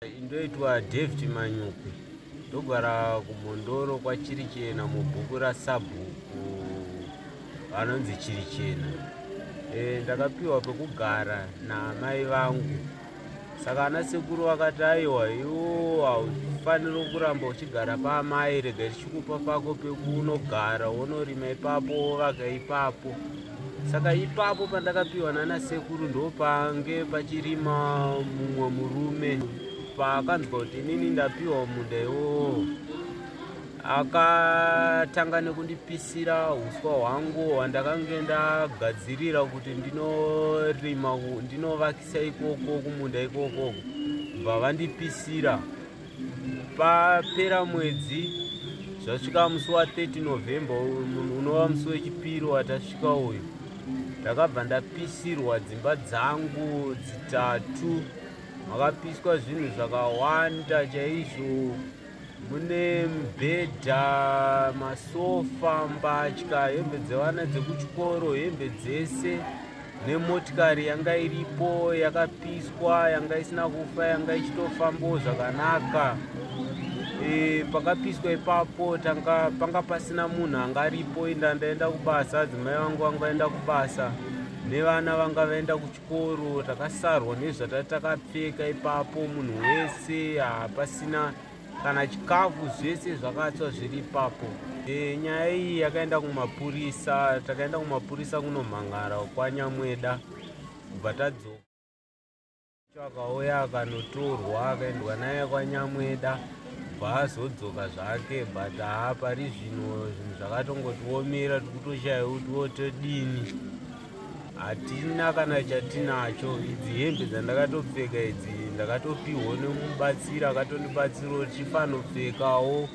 Indoitwa David Manyuki ndogara kumhondoro kwachirichena mubhuku rasabhuku vanonzi chirichena e, ndakapiwa pekugara naamai vangu saka ana sekuru vakati aiwa iwo haufaniri kuramba uchigara paamai rega tichikupa pako pekunogara wonorima ipapo wovaka ipapo saka ipapo pandakapiwa nana sekuru ndopange pachirima mumwe murume paakanzwa kuti inini ndapiwa munda iwowo akatanga nekundipisira uswa hwangu hwandakange ndagadzirira kuti ndinorima ndinovakisa ikoko kumunda ikoko bva vandipisira papera mwedzi zvasvika musi wa 30 november unova musi wechipiri watasvika uyu ndakabva ndapisirwa dzimba dzangu dzitatu makapiswa zvinhu zvakawanda chaizvo mune mubhedha masofa mbatya hembe dzevana dzekuchikoro hembe dzese nemotikari yanga iripo yakapiswa yanga isina kufa yanga ichitofambawo zvakanaka e, pakapiswa ipapo tanga panga pasina munhu anga aripo inda ndaenda kubasa adzimai vangu vanga vaenda kubasa nevana vanga vaenda kuchikoro takasarwa nezvatatakapfeka ipapo munhu wese hapasina kana chikafu zvese zvakatswa zviri ipapo e, nyaya iyi yakaenda kumapurisa takaenda kumapurisa kunomhangara kwanyamweda kubva tadzoka akauya akanotorwa akaendwa naye kwanyamweda bva azodzoka zvake but haa pari zvino zvinhu zvakatongotiomera tikutoshaiwa kuti wotodini hatina kana chatinacho idzi hembe dzandakatopfeka idzi ndakatopihwa nemubatsiri akatondibatsirawo chifanopfekawo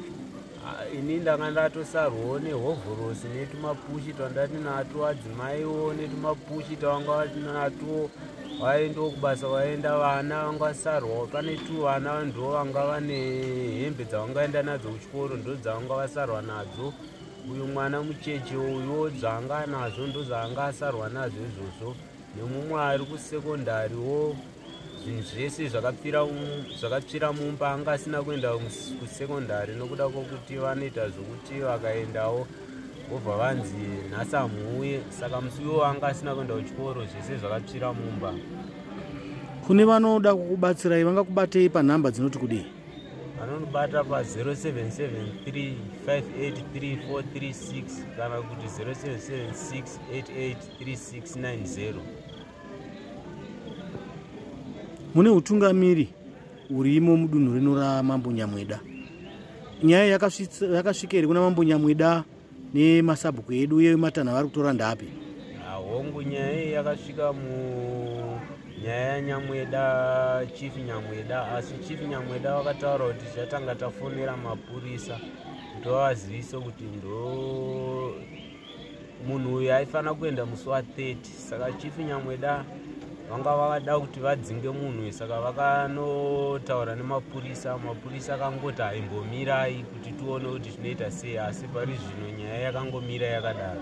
ah, ini ndanga ndatosarwawo nehovhorosi netumapushi twandati natwo adzimaiwo netumapushi twanga vati natwo vaendawo kubasa vaenda vana vangasarwawo pane two vana ndo vanga vane hembe dzavangaenda nadzo kuchikoro ndo dzavanga vasarwa nadzo uyu mwana mucheche uyo dzaanga anazvo ndodzaanga asarwa nazvo izvozvo nemumwe ari kusekondari wo zvinhu zvese zvakatsvira mumba anga asina kuenda kusekondari nokuda kwokuti vanoita zvokuti vakaendawo vobva vanzi nhasi amuuye saka musi iwo anga asina kuenda kuchikoro zvese zvakatsvira mumba kune vanoda kukubatsirai vangakubatei panhamba dzinoti kudii anonibata pa 0773583436 kana kuti 0776883690 mune utungamiri urimo mudunhu rino ramambo nyamweda nyaya yakasvika here kuna mambo nyamweda nemasabhuku edu uye matanho avari kutora ndapi hongu nyaya iyi yakasvika mu nyaya yanyamweda chief nyamweda asi chief nyamweda vakataura kuti tichatanga tafonera mapurisa kuti vavazivise kuti ndo munhu uyu aifanira kuenda musi wa 30 saka chief nyamweda vanga vavada kuti vadzinge munhu saka vakanotaura nemapurisa mapurisa akangoti haimbomirai kuti tione kuti zvinoita sei asi pari zvino nyaya yakangomira yakadaro